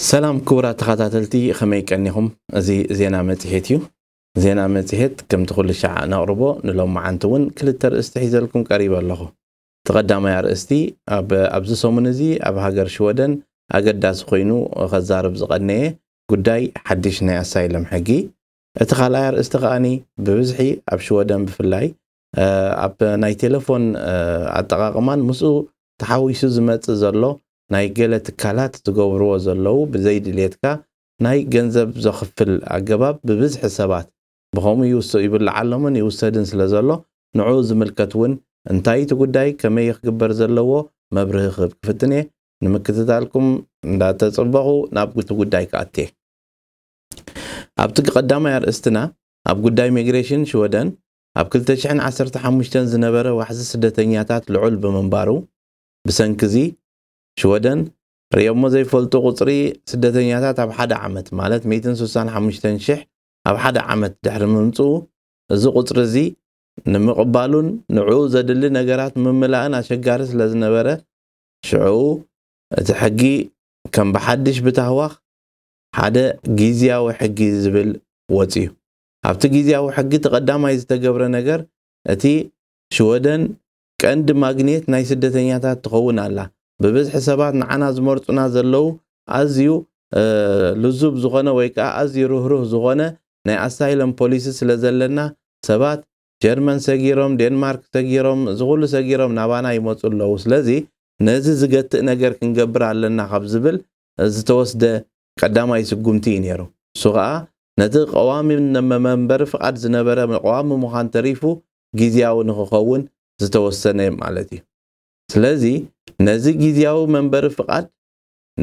ሰላም ክቡራት ተኸታተልቲ ከመይ ቀኒኹም? እዚ ዜና መፅሄት እዩ። ዜና መፅሄት ከምቲ ኩሉ ሻዕ ነቕርቦ ንሎሚ መዓንቲ እውን ክልተ ርእስቲ ሒዘልኩም ቀሪበ ኣለኹ። እቲ ቀዳማይ ኣርእስቲ፣ ኣብ ኣብዚ ሰሙን እዚ ኣብ ሃገር ሽወደን ኣገዳሲ ኮይኑ ከዛርብ ዝቐነየ ጉዳይ ሓድሽ ናይ ኣሳይለም ሕጊ፣ እቲ ካልኣይ ኣርእስቲ ከኣ ብብዝሒ ኣብ ሽወደን ብፍላይ ኣብ ናይ ቴለፎን ኣጠቓቕማን ምስኡ ተሓዊሱ ዝመጽእ ዘሎ ናይ ገለ ትካላት ዝገብርዎ ዘለዉ ብዘይድልየትካ ናይ ገንዘብ ዘኽፍል ኣገባብ ብብዝሒ ሰባት ብኸምኡ ይውስእ ይብልዓሎምን ይውሰድን ስለ ዘሎ ንዕኡ ዝምልከት እውን እንታይ እቲ ጉዳይ ከመይ እዩ ክግበር ዘለዎ መብርሂ ክህብ ክፍትን እየ ንምክትታልኩም እንዳተጸበኹ ናብ እቲ ጉዳይ ክኣቲ እየ ኣብቲ ቀዳማይ ኣርእስትና ኣብ ጉዳይ ሚግሬሽን ሽወደን ኣብ ክልተ ሽሕን ዓሰርተ ሓሙሽተን ዝነበረ ዋሕዚ ስደተኛታት ልዑል ብምንባሩ ብሰንኪ እዚ ሽወደን ርእዮሞ ዘይፈልጡ ቁጽሪ ስደተኛታት ኣብ ሓደ ዓመት ማለት ሚእትን ስሳን ሓሙሽተን ሽሕ ኣብ ሓደ ዓመት ድሕሪ ምምጽኡ፣ እዚ ቁጽሪ እዚ ንምቕባሉን ንዕኡ ዘድሊ ነገራት ምምላእን ኣሸጋሪ ስለ ዝነበረ፣ ሽዕኡ እቲ ሕጊ ከም ብሓድሽ ብታህዋኽ ሓደ ጊዝያዊ ሕጊ ዝብል ወጺኡ። ኣብቲ ጊዝያዊ ሕጊ እቲ ቀዳማይ ዝተገብረ ነገር እቲ ሽወደን ቀንዲ ማግኔት ናይ ስደተኛታት ትኸውን ኣላ። ብብዝሒ ሰባት ንዓና ዝመርጹና ዘለዉ ኣዝዩ ልዙብ ዝኾነ ወይ ከኣ ኣዝዩ ርህሩህ ዝኾነ ናይ ኣሳይለም ፖሊሲ ስለ ዘለና ሰባት ጀርመን ሰጊሮም ዴንማርክ ሰጊሮም እዚ ኩሉ ሰጊሮም ናባና ይመጹ ኣለዉ ስለዚ ነዚ ዝገትእ ነገር ክንገብር ኣለና ካብ ዝብል ዝተወስደ ቀዳማይ ስጉምቲ እዩ ነይሩ። ንሱ ከኣ ነቲ ቀዋሚ መንበሪ ፍቓድ ዝነበረ ቀዋሚ ምዃን ተሪፉ ግዝያዊ ንኽኸውን ዝተወሰነ ማለት እዩ። ስለዚ ነዚ ግዝያዊ መንበሪ ፍቓድ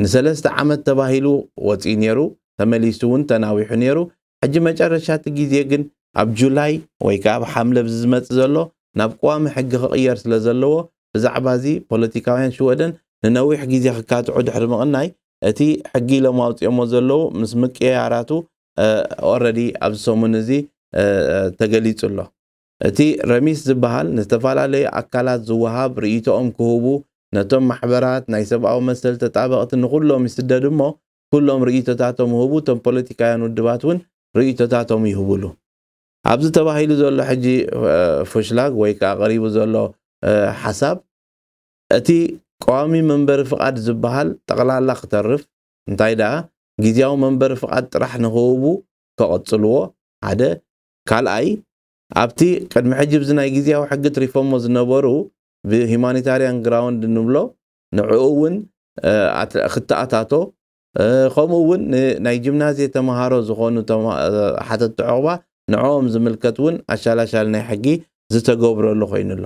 ንሰለስተ ዓመት ተባሂሉ ወጺኡ ነይሩ፣ ተመሊሱ እውን ተናዊሑ ነይሩ፣ ሕጂ መጨረሻ እቲ ግዜ ግን ኣብ ጁላይ ወይ ከኣ ኣብ ሓምለ እዚ ዝመጽእ ዘሎ ናብ ቀዋሚ ሕጊ ክቕየር ስለ ዘለዎ ብዛዕባ እዚ ፖለቲካውያን ሽወደን ንነዊሕ ግዜ ክካትዑ ድሕሪ ምቕናይ እቲ ሕጊ ኢሎም ኣውጺኦሞ ዘለዉ ምስ ምቅይያራቱ ኦረዲ ኣብዚ ሰሙን እዚ ተገሊጹ ኣሎ። እቲ ረሚስ ዝበሃል ንዝተፈላለዩ ኣካላት ዝወሃብ ርእይቶኦም ክህቡ ነቶም ማሕበራት ናይ ሰብኣዊ መሰል ተጣበቕቲ ንኹሎም ይስደድ እሞ ኩሎም ርእይቶታቶም ህቡ እቶም ፖለቲካውያን ውድባት ውን ርእይቶታቶም ይህቡሉ። ኣብዚ ተባሂሉ ዘሎ ሕጂ ፎሽላግ ወይ ከኣ ቀሪቡ ዘሎ ሓሳብ እቲ ቀዋሚ መንበሪ ፍቓድ ዝበሃል ጠቕላላ ክተርፍ እንታይ ደኣ ግዝያዊ መንበሪ ፍቓድ ጥራሕ ንኽህቡ ከቐጽልዎ፣ ሓደ። ካልኣይ፣ ኣብቲ ቅድሚ ሕጂ ብዚ ናይ ግዝያዊ ሕጊ ትሪፎሞ ዝነበሩ ብሂማኒታርያን ግራውንድ ንብሎ ንዕኡ ውን ክትኣታቶ፣ ከምኡ ውን ንናይ ጂምናዝየ ተመሃሮ ዝኾኑ ሓተቲ ዑቕባ ንዕኦም ዝምልከት ውን ኣሻላሻሊ ናይ ሕጊ ዝተገብረሉ ኮይኑ ኣሎ።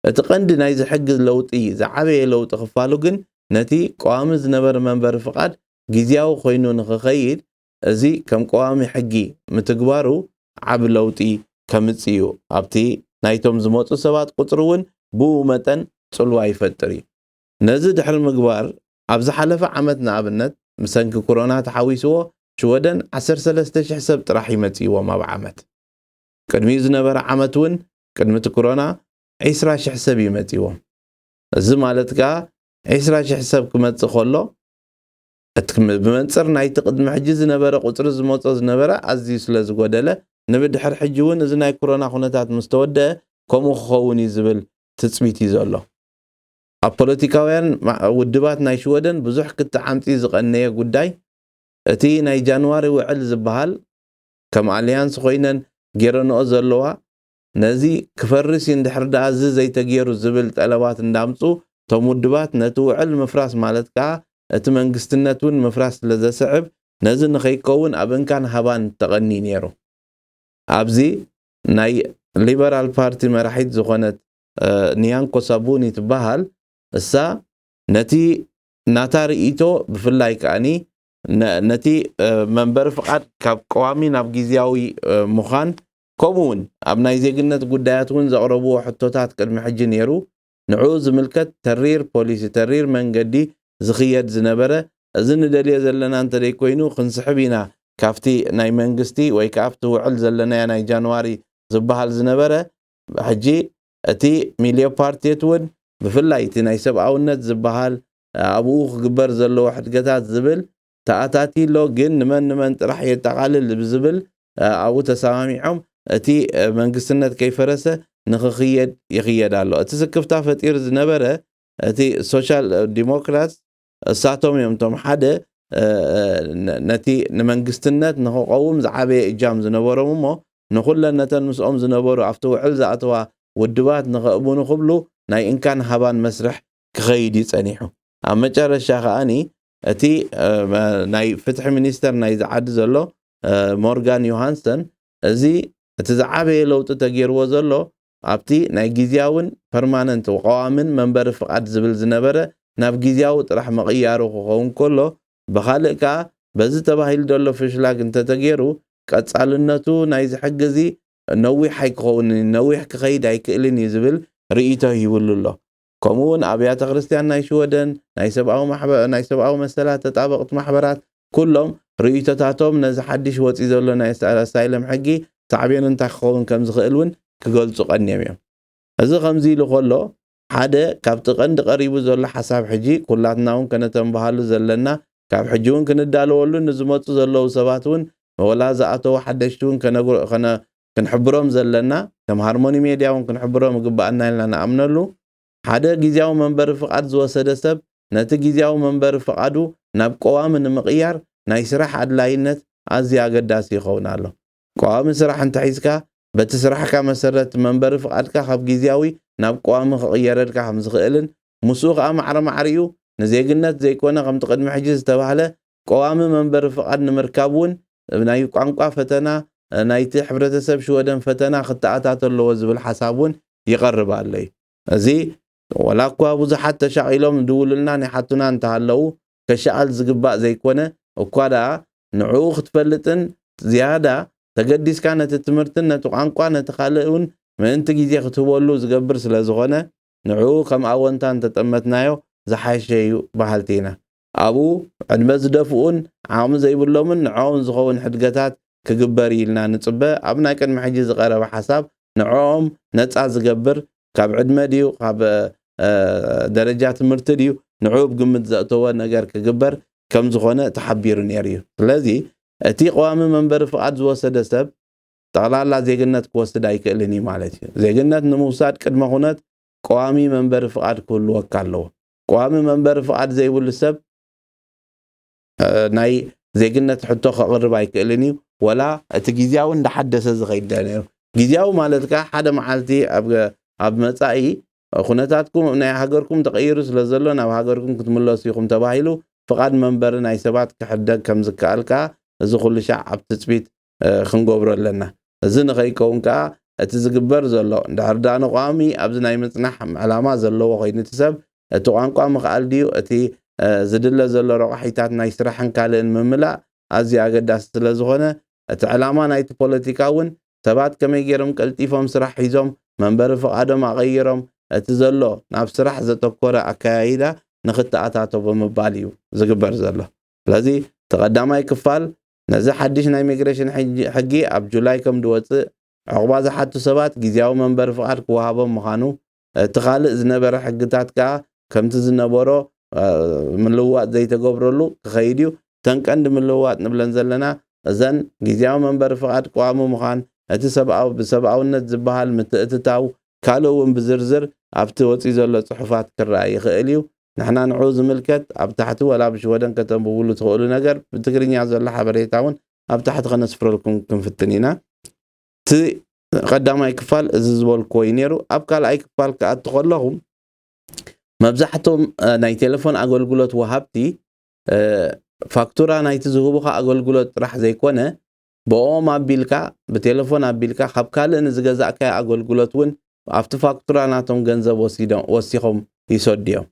እቲ ቀንዲ ናይዚ ሕጊ ለውጢ ዝዓበየ ለውጢ ክፋሉ ግን ነቲ ቀዋሚ ዝነበረ መንበሪ ፍቓድ ጊዚያዊ ኮይኑ ንክኸይድ እዚ ከም ቀዋሚ ሕጊ ምትግባሩ ዓቢ ለውጢ ከምጽእ እዩ። ኣብቲ ናይቶም ዝመጹ ሰባት ቁጽሪ እውን ብኡ መጠን ጽልዋ ይፈጥር እዩ። ነዚ ድሕሪ ምግባር ኣብ ዝሓለፈ ዓመት ንኣብነት ብሰንኪ ኩሮና ተሓዊስዎ ሽወደን ዓሰርተ ሰለስተ ሽሕ ሰብ ጥራሕ እዩ መጺእዎም ኣብ ዓመት። ቅድሚኡ ዝነበረ ዓመት እውን ቅድሚ እቲ ኩሮና ዒስራ ሽሕ ሰብ እዩ መጺዎም። እዚ ማለት ከኣ ዒስራ ሽሕ ሰብ ክመጽእ ከሎ እቲ ብመንጽር ናይቲ ቅድሚ ሕጂ ዝነበረ ቁጽሪ ዝመጾ ዝነበረ ኣዝዩ ስለ ዝጎደለ ንብድሕር ሕጂ እውን እዚ ናይ ኩሮና ኩነታት ምስ ተወደኣ ከምኡ ክኸውን እዩ ዝብል ትጽቢት እዩ ዘሎ። ኣብ ፖለቲካውያን ውድባት ናይ ሽወደን ብዙሕ ክትዕ ኣምጺኡ ዝቐነየ ጉዳይ እቲ ናይ ጃንዋሪ ውዕል ዝበሃል ከም ኣልያንስ ኮይነን ጌረንኦ ዘለዋ ነዚ ክፈርስ ዩ እንድሕር ደኣ እዚ ዘይተጌሩ ዝብል ጠለባት እንዳምጹ እቶም ውድባት ነቲ ውዕል ምፍራስ ማለት ከኣ እቲ መንግስትነት ውን ምፍራስ ስለ ዘስዕብ ነዚ ንኸይከውን ኣብ እንካን ሃባን ተቐንዩ ኔሩ ኣብዚ ናይ ሊበራል ፓርቲ መራሒት ዝኾነት ንያንኮ ሳቡኒ ትበሃል እሳ ነቲ ናታ ርእይቶ ብፍላይ ከኣ ነቲ መንበሪ ፍቓድ ካብ ቀዋሚ ናብ ግዝያዊ ምዃን ከምኡ እውን ኣብ ናይ ዜግነት ጉዳያት እውን ዘቕረብዎ ሕቶታት ቅድሚ ሕጂ ነይሩ ንዕኡ ዝምልከት ተሪር ፖሊሲ ተሪር መንገዲ ዝኽየድ ዝነበረ እዚ ንደልዮ ዘለና እንተደይኮይኑ ክንስሕብ ኢና ካብቲ ናይ መንግስቲ ወይ ከኣ ኣብቲ ውዕል ዘለናዮ ናይ ጃንዋሪ ዝበሃል ዝነበረ ሕጂ እቲ ሚልዮፓርቲት እውን ብፍላይ እቲ ናይ ሰብኣውነት ዝበሃል ኣብኡ ክግበር ዘለዎ ሕድገታት ዝብል ተኣታትዩ ኣሎ፣ ግን ንመን ንመን ጥራሕ የጠቓልል ብዝብል ኣብኡ ተሰማሚዖም እቲ መንግስትነት ከይፈረሰ ንክኽየድ ይኽየድ ኣሎ። እቲ ስክፍታ ፈጢሩ ዝነበረ እቲ ሶሻል ዲሞክራትስ እሳቶም እዮም እቶም ሓደ ነቲ ንመንግስትነት ንክቐውም ዝዓበየ እጃም ዝነበሮም እሞ ንኹለን ነተን ምስኦም ዝነበሩ ኣብቲ ውዕል ዝኣተዋ ውድባት ንከእቡኑ ክብሉ ናይ እንካን ሃባን መስርሕ ክኸይድ እዩ ጸኒሑ። ኣብ መጨረሻ ከኣ እቲ ናይ ፍትሒ ሚኒስተር ናይዚ ዓዲ ዘሎ ሞርጋን ዮሃንሰን እዚ እቲ ዝዓበየ ለውጢ ተገይርዎ ዘሎ ኣብቲ ናይ ግዝያዊን ፐርማነንት፣ ቀዋሚን፣ መንበሪ ፍቓድ ዝብል ዝነበረ ናብ ግዝያዊ ጥራሕ ምቕያሩ ክኸውን ከሎ ብኻልእ ከኣ በዚ ተባሂሉ ዘሎ ፍሽላግ እንተተገይሩ ቀጻልነቱ ናይዚ ሕጊ እዚ ነዊሕ ኣይክኸውንን እዩ፣ ነዊሕ ክኸይድ ኣይክእልን እዩ ዝብል ርእይቶ ሂብሉ ኣሎ። ከምኡ'ውን ኣብያተ ክርስትያን ናይ ሽወደን፣ ናይ ሰብኣዊ ማሕበ ናይ ሰብኣዊ መሰላት ተጣበቕቲ ማሕበራት፣ ኩሎም ርእይቶታቶም ነዚ ሓድሽ ወጺ ዘሎ ናይ ኣሳይለም ሕጊ ሳዕቤኑ እንታይ ክኸውን ከም ዝኽእል እውን ክገልጹ ቀንዮም እዮም። እዚ ከምዚ ኢሉ ከሎ፣ ሓደ ካብቲ ቀንዲ ቀሪቡ ዘሎ ሓሳብ ሕጂ ኩላትና እውን ከነተንብሃሉ ዘለና፣ ካብ ሕጂ እውን ክንዳለወሉን ንዝመጹ ዘለዉ ሰባት እውን ወላ ዝኣተዉ ሓደሽቲ እውን ከነ ክንሕብሮም ዘለና፣ ከም ሃርሞኒ ሜድያ እውን ክንሕብሮም ይግበኣና ኢልና ንኣምነሉ፣ ሓደ ግዝያዊ መንበሪ ፍቓድ ዝወሰደ ሰብ ነቲ ግዝያዊ መንበሪ ፍቓዱ ናብ ቀዋሚ ንምቕያር ናይ ስራሕ ኣድላይነት ኣዝዩ ኣገዳሲ ይኸውን ኣሎ። ቀዋሚ ስራሕ እንተሒዝካ፣ በቲ ስራሕካ መሰረት መንበሪ ፍቓድካ ካብ ግዝያዊ ናብ ቀዋሚ ክቕየረልካ ከምዝኽእልን ምስኡ ከኣ ማዕረ ማዕሪኡ ንዜግነት ዘይኮነ ከምቲ ቅድሚ ሕጂ ዝተባህለ ቀዋሚ መንበሪ ፍቓድ ንምርካብ እውን ናይ ቋንቋ ፈተና ናይቲ ሕብረተሰብ ሽወደን ፈተና ክተኣታቶ ኣለዎ ዝብል ሓሳብ እውን ይቐርብ ኣሎ እዩ። እዚ ዋላ እኳ ብዙሓት ተሻቒሎም ይድውሉልናን ይሓቱና እንተሃለዉ ከሻኣል ዝግባእ ዘይኮነ እኳ ደኣ ንዕኡ ክትፈልጥን ዝያዳ ተገዲስካ ነቲ ትምህርትን ነቲ ቋንቋ ነቲ ካልእ እውን ምእንቲ ግዜ ክትህበሉ ዝገብር ስለዝኾነ ንዕኡ ከም ኣወንታ እንተጠመትናዮ ዝሓሸ እዩ በሃልቲ ኢና። ኣብኡ ዕድመ ዝደፍኡን ዓቕሚ ዘይብሎምን ንዕኦም ዝኸውን ሕድገታት ክግበር እዩ ኢልና ንጽበ፣ ኣብ ናይ ቅድሚ ሕጂ ዝቐረበ ሓሳብ ንዕኦም ነጻ ዝገብር ካብ ዕድመ ድዩ ካብ ደረጃ ትምህርቲ ድዩ ንዕኡ ኣብ ግምት ዘእተወ ነገር ክግበር ከምዝኾነ ተሓቢሩ ነይሩ እዩ። ስለዚ እቲ ቀዋሚ መንበሪ ፍቓድ ዝወሰደ ሰብ ጠቕላላ ዜግነት ክወስድ ኣይክእልን እዩ ማለት እዩ። ዜግነት ንምውሳድ ቅድመ ኩነት ቀዋሚ መንበሪ ፍቓድ ክህልወካ ኣለዎ። ቋሚ መንበሪ ፍቓድ ዘይብሉ ሰብ ናይ ዜግነት ሕቶ ከቕርብ ኣይክእልን እዩ ወላ እቲ ግዝያዊ እንዳሓደሰ ዝኸይድ ዶ ነይሩ ግዝያዊ ማለት ከኣ ሓደ መዓልቲ ኣብ መጻኢ ኩነታትኩም ናይ ሃገርኩም ተቐይሩ ስለ ዘሎ ናብ ሃገርኩም ክትምለሱ ኢኹም ተባሂሉ ፍቓድ መንበሪ ናይ ሰባት ክሕደግ ከም ዝከኣል ከኣ እዚ ኩሉ ሻዕ ኣብ ትጽቢት ክንገብሮ ኣለና። እዚ ንኸይከውን ከኣ እቲ ዝግበር ዘሎ እንድሕር ደኣ ንቋሚ ኣብዚ ናይ ምጽናሕ ዕላማ ዘለዎ ኮይኑ እቲ ሰብ እቲ ቋንቋ ምኽኣል ድዩ እቲ ዝድለ ዘሎ ረቋሒታት ናይ ስራሕን ካልእን ምምላእ ኣዝዩ ኣገዳሲ ስለ ዝኾነ እቲ ዕላማ ናይቲ ፖለቲካ እውን ሰባት ከመይ ገይሮም ቀልጢፎም ስራሕ ሒዞም መንበሪ ፍቓዶም ኣቐይሮም እቲ ዘሎ ናብ ስራሕ ዘተኮረ ኣከያይዳ ንኽተኣታቶ ብምባል እዩ ዝግበር ዘሎ። ስለዚ እቲ ቀዳማይ ክፋል ነዚ ሓድሽ ናይ ሚግሬሽን ሕጊ ኣብ ጁላይ ከም ድወጽእ ዑቕባ ዝሓቱ ሰባት ግዝያዊ መንበሪ ፍቓድ ክወሃቦም ምዃኑ እቲ ካልእ ዝነበረ ሕግታት ከኣ ከምቲ ዝነበሮ ምልውዋጥ ዘይተገብረሉ ክኸይድ እዩ። እተን ቀንዲ ምልውዋጥ ንብለን ዘለና እዘን ግዝያዊ መንበሪ ፍቓድ ቀዋሚ ምዃን እቲ ሰብኣዊ ብሰብኣውነት ዝበሃል ምትእትታው ካልእ እውን ብዝርዝር ኣብቲ ወጺኡ ዘሎ ጽሑፋት ክረኣ ይኽእል እዩ። ንሕና ንዕኡ ዝምልከት ኣብ ታሕቲ ወላ ብሽወደን ከተንብብሉ ትኽእሉ ነገር ብትግርኛ ዘሎ ሓበሬታ እውን ኣብ ታሕቲ ከነስፍረልኩም ክንፍትን ኢና እቲ ቀዳማይ ክፋል እዚ ዝበልክዎ እዩ ነይሩ ኣብ ካልኣይ ክፋል ክኣቱ ከለኹ መብዛሕቶም ናይ ቴሌፎን ኣገልግሎት ወሃብቲ ፋክቱራ ናይቲ ዝህቡኻ ኣገልግሎት ጥራሕ ዘይኮነ ብኦም ኣቢልካ ብቴለፎን ኣቢልካ ካብ ካልእ ንዝገዛእካዮ ኣገልግሎት እውን ኣብቲ ፋክቱራ ናቶም ገንዘብ ወሲኾም ይሰዱ እዮም።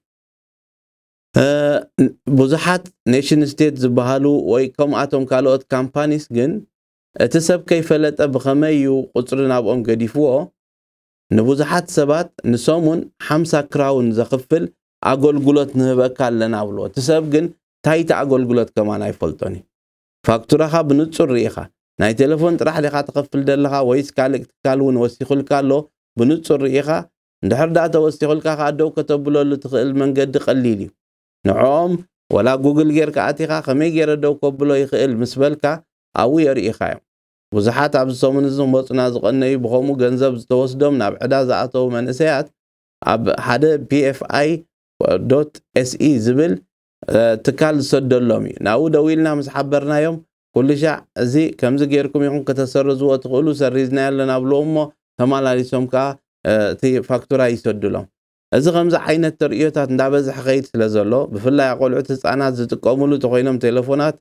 ብዙሓት ኔሽን ስቴት ዝበሃሉ ወይ ከምኣቶም ካልኦት ካምፓኒስ ግን እቲ ሰብ ከይፈለጠ ብኸመይ እዩ ቁፅሪ ናብኦም ገዲፍዎ ንብዙሓት ሰባት ንሰሙን ሓምሳ ክራውን ዘኽፍል ኣገልግሎት ንህበካ ኣለና ብልዎ እቲ ሰብ ግን ታይቲ ኣገልግሎት ከማን ኣይፈልጦን እዩ ፋክቱራኻ ብንጹር ርኢኻ። ናይ ቴለፎን ጥራሕ ዲኻ ትኸፍል ዘለኻ ወይስ ካልእ ትካል ውን ወሲኹልካ ኣሎ ብንጹር ርኢኻ? እንድሕር ድኣ ተወሲኹልካ ከኣ ደው ከተብለሉ ትኽእል መንገዲ ቀሊል እዩ። ንዕኦም ወላ ጉግል ጌርካ ኣቲኻ ከመይ ጌረ ደው ከብሎ ይኽእል ምስ በልካ ኣብኡ የርእዩኻ'ዮም። ብዙሓት ኣብዚ ሰሙን እዚ ክመጹና ዝቐነዩ ብኸምኡ ገንዘብ ዝተወስዶም ናብ ዕዳ ዝኣተዉ መንእሰያት ኣብ ሓደ PFI dot se ዝብል ትካል ዝሰደሎም እዩ። ናብኡ ደዊልና ምስ ሓበርናዮም ኩሉሻዕ እዚ ከምዚ ጌርኩም ኢኹም ከተሰርዝዎ ትኽእሉ ሰሪዝናዮ ኣለና ብሎም እሞ ተማላሊሶም ከኣ እቲ ፋክቱራ ይሰዱሎም። እዚ ከምዚ ዓይነት ተርእዮታት እንዳበዝሐ ኸይድ ስለዘሎ ብፍላይ ኣቖልዑት ህጻናት ዝጥቀምሉ ተኾይኖም ቴለፎናት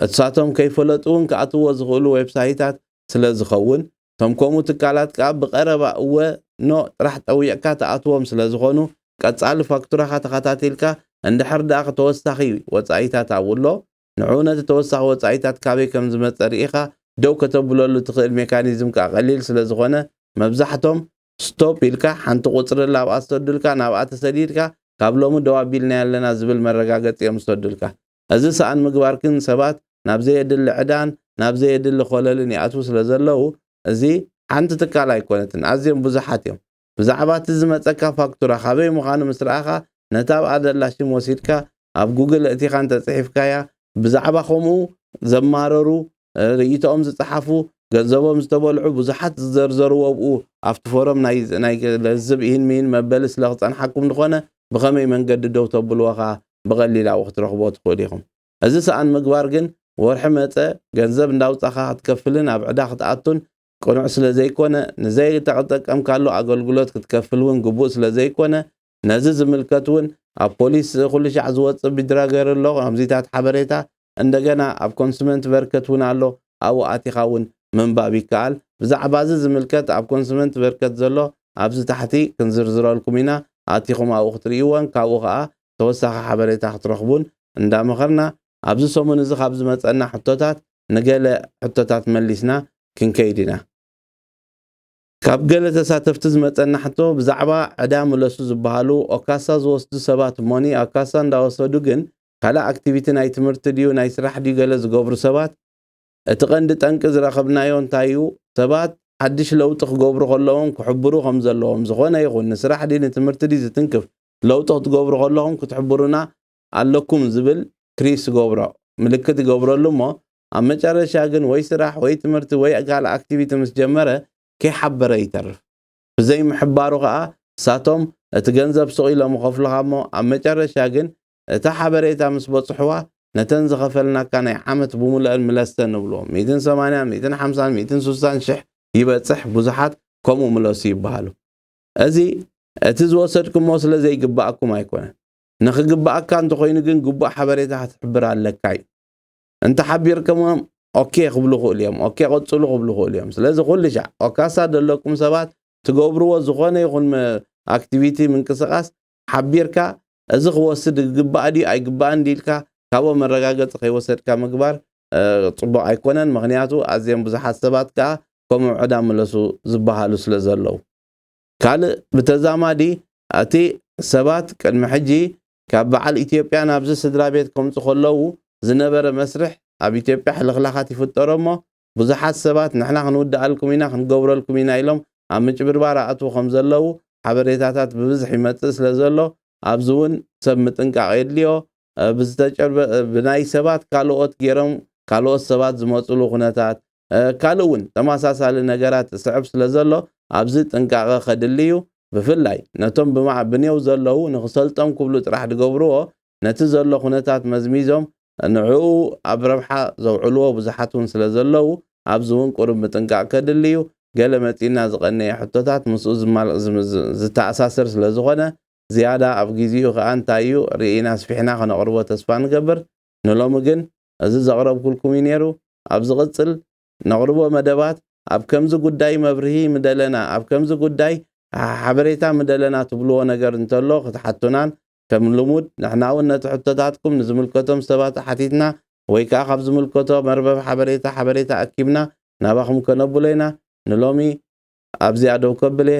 እሳቶም ከይፈለጡ እውን ክኣትውዎ ዝኽእሉ ዌብሳይታት ስለ ዝኸውን፣ እቶም ከምኡ ትካላት ከኣ ብቐረባ እወ፣ ኖ፣ ጥራሕ ጠዊቕካ ትኣትዎም ስለ ዝኾኑ፣ ቀጻሊ ፋክቱራኻ ተኸታቲልካ እንድሕር ደኣ ተወሳኺ ወጻኢታት ኣብኡ'ሎ፣ ንዕኡ ነቲ ተወሳኺ ወጻኢታት ካበይ ከም ዝመጸ ርኢኻ ደው ከተብለሉ እትኽእል ሜካኒዝም ከኣ ቀሊል ስለ ዝኾነ መብዛሕቶም ስቶፕ ኢልካ ሓንቲ ቁጽሪ እላ ኣብኣ ዝሰዱልካ ናብኣ ተሰዲድካ ካብ ሎሚ ደው ኣቢልናዮ ኣለና ዝብል መረጋገጺ እዮም ዝሰዱልካ። እዚ ሰኣን ምግባር ግን ሰባት ናብ ዘየድሊ ዕዳን ናብ ዘየድሊ ኮለልን ይኣትዉ ስለ ዘለዉ እዚ ሓንቲ ትካል ኣይኮነትን ኣዝዮም ብዙሓት እዮም ብዛዕባ እቲ ዝመጸካ ፋክቱራ ካበይ ምኻኑ ምስ ረኣኻ ነታ ኣብኣ ዘላ ሽም ወሲድካ ኣብ ጉግል እእቲኻ እንተ ጽሒፍካያ ብዛዕባ ከምኡ ዘማረሩ ርእይቶኦም ዝጸሓፉ ገንዘቦም ዝተበልዑ ብዙሓት ዝዘርዘርዎ ኣብኡ ኣብቲ ፎረም ናይ ናይ ለዝብ ኢህን ሚህን መበሊ ስለ ክጸንሓኩም ዝኾነ ብኸመይ መንገዲ ደው ተብልዎ ከኣ ብቐሊል ኣብኡ ክትረኽብዎ ትኽእሉ ኢኹም። እዚ ሰኣን ምግባር ግን ወርሒ መጸ ገንዘብ እንዳውጻኻ ክትከፍልን ኣብ ዕዳ ክትኣቱን ቅኑዕ ስለ ዘይኮነ ንዘይተጠቀምካሉ ኣገልግሎት ክትከፍል እውን ግቡእ ስለ ዘይኮነ ነዚ ዝምልከት እውን ኣብ ፖሊስ ኩልሻዕ ዝወጽእ ቢድራገር ኣሎ ከምዚታት ሓበሬታ እንደገና ኣብ ኮንሱመንትቨርከት እውን ኣሎ ኣብኡ ኣቲኻ እውን ምንባብ ይከኣል ብዛዕባ እዚ ዝምልከት ኣብ ኮንሱመንትቨርከት ዘሎ ኣብዚ ታሕቲ ክንዝርዝረልኩም ኢና ኣቲኹም ኣብኡ ክትርእይዎን ካብኡ ከኣ ተወሳኺ ሓበሬታ ክትረኽቡን እንዳመኸርና ኣብዚ ሰሙን እዚ ካብ ዝመጸና ሕቶታት ንገለ ሕቶታት መሊስና ክንከይድ ኢና። ካብ ገለ ተሳተፍቲ ዝመጸና ሕቶ ብዛዕባ ዕዳ ምለሱ ዝበሃሉ ኦካሳ ዝወስዱ ሰባት ሞኒ ኣካሳ እንዳወሰዱ ግን ካልእ ኣክቲቪቲ ናይ ትምህርቲ ድዩ ናይ ስራሕ ድዩ ገለ ዝገብሩ ሰባት እቲ ቀንዲ ጠንቂ ዝረኸብናዮ እንታይ እዩ ሰባት ሓድሽ ለውጢ ክገብሩ ከለዎም ክሕብሩ ከም ዘለዎም ዝኾነ ይኹን ንስራሕ ድዩ ንትምህርቲ ድዩ ዝትንክፍ ለውጢ ክትገብሩ ከለኹም ክትሕብሩና ኣለኩም ዝብል ክሪስ ዝገብሮ ምልክት ይገብረሉ እሞ ኣብ መጨረሻ ግን ወይ ስራሕ ወይ ትምህርቲ ወይ ካልእ ኣክቲቪቲ ምስ ጀመረ ከይሓበረ ይተርፍ። ብዘይ ምሕባሩ ከኣ እሳቶም እቲ ገንዘብ ሱቕ ኢሎም ይኸፍሉኻ እሞ ኣብ መጨረሻ ግን እታ ሓበሬታ ምስ በጽሑዋ ነተን ዝኸፈልናካ ናይ ዓመት ብሙሉኣን ምለሰን ንብሉዎም። ሚእትን ሰማንያን ሚእትን ሓምሳን ሚእትን ሱሳን ሽሕ ይበጽሕ ብዙሓት ከምኡ ምለሱ ይበሃሉ። እዚ እቲ ዝወሰድኩሞ ስለ ዘይግበኣኩም ኣይኮነን። ንኽግበኣካ እንተኾይኑ ግን ግቡእ ሓበሬታ ክትሕብር ኣለካ እዩ። እንተ ሓቢርክሞም ኦኬ ክብሉ ይኽእሉ እዮም ኦኬ ቀጽሉ ክብሉ ይኽእሉ እዮም ስለዚ ኩሉ ሻዕ ኦካሳ ዘለኩም ሰባት ትገብርዎ ዝኾነ ይኹን ኣክቲቪቲ ምንቅስቓስ ሓቢርካ እዚ ክወስድ ግባእ ድዩ ኣይግባእን ድልካ ካብኡ መረጋገፂ ከይወሰድካ ምግባር ፅቡቕ ኣይኮነን ምክንያቱ ኣዝዮም ብዙሓት ሰባት ከዓ ከምኡ ዕዳ ምለሱ ዝበሃሉ ስለ ዘለዉ ካልእ ብተዛማዲ እቲ ሰባት ቅድሚ ሕጂ ካብ በዓል ኢትዮጵያ ናብዚ ስድራቤት ከምጹ ከለዉ ዝነበረ መስርሕ ኣብ ኢትዮጵያ ሕልኽላኻት ይፍጠሮ እሞ ብዙሓት ሰባት ንሕና ክንውድኣልኩም ኢና ክንገብረልኩም ኢና ኢሎም ኣብ ምጭብርባር ኣእትዉ ከምዘለዉ ሓበሬታታት ብብዝሕ ይመጽእ ስለዘሎ ኣብዚ ውን ሰብ ምጥንቃቕ የድልዮ ብዝተጨርበ ብናይ ሰባት ካልኦት ጌሮም ካልኦት ሰባት ዝመጹሉ ኩነታት ካልእ እውን ተመሳሳሊ ነገራት ዝስዕብ ስለዘሎ ኣብዚ ጥንቃቐ ከድሊ እዩ። ብፍላይ ነቶም ብማዕብኔው ዘለዉ ንክሰልጦም ክብሉ ጥራሕ ድገብርዎ ነቲ ዘሎ ኩነታት መዝሚዞም ንዕኡ ኣብ ረብሓ ዘውዕልዎ ብዙሓት እውን ስለዘለዉ ኣብዚ እውን ቁሩብ ምጥንቃቕ ከድሊ እዩ። ገለ መጺእና ዝቐነየ ሕቶታት ምስኡ ዝተኣሳሰር ስለዝኾነ ዝያዳ ኣብ ግዚኡ ከኣ እንታይ እዩ ርኢና ኣስፊሕና ከነቕርቦ ተስፋ ንገብር። ንሎሚ ግን እዚ ዘቕረብኩልኩም እዩ ነይሩ ኣብ ዝቕጽል ነቕርቦ መደባት ኣብ ከምዚ ጉዳይ መብርሂ ምደለና ኣብ ከምዚ ጉዳይ ሓበሬታ ምደለና ትብልዎ ነገር እንተሎ ክትሓቱናን ከም ልሙድ ንሕና እውን ነቲ ሕቶታትኩም ንዝምልከቶም ሰባት ሓቲትና ወይ ከኣ ካብ ዝምልከቶ መርበብ ሓበሬታ ሓበሬታ ኣኪብና ናባኹም ከነብሎ ኢና ንሎሚ ኣብዚኣ ደው ከብል እየ